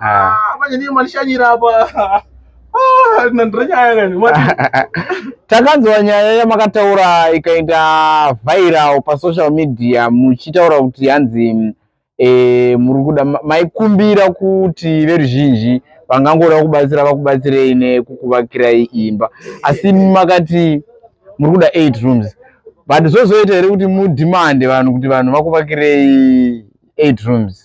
Ah. Ah, manje ndiyo mandishanyira apa ah, nandira nyaya kani takanzwa nyaya yamakataura ikaita viral pasocial media muchitaura kuti hanzi eh, muri kuda maikumbira kuti veruzhinji vangangoda kubatsira vakubatsirei nekukuvakirai imba asi makati muri kuda eight rooms but zvozoita here kuti mudhimande vanhu kuti vanhu vakuvakirei eight rooms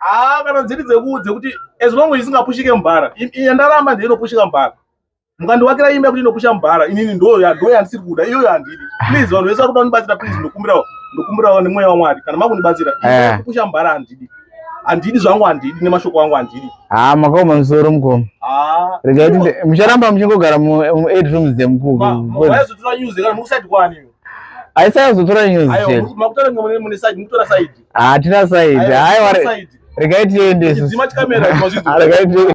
Ah, kana dziri dzeku dzekuti as long as isingapushike mubhara yandaramba ndiyo inopushika mubhara mukandiwakira imba yekuti inopusha mubhara inini ndo yandisiri kuda iyoyo handidi please vanhu vese vari kuda kundibatsira please ndokumbirawo ndokumbirawo nemweya wamwari kana makundibatsira eh. kupusha mubhara handidi handidi zvangu handidi nemashoko angu handidi haa ah, makaoma musoro mukoma ah. regai tinde mucharamba muchingogara mueight rooms dzemukukuaizotira news kana mukusaiti kwani aisayazotora news chete makutora mune side mukutora side hatina saidi haiwa regai tiende regai tiende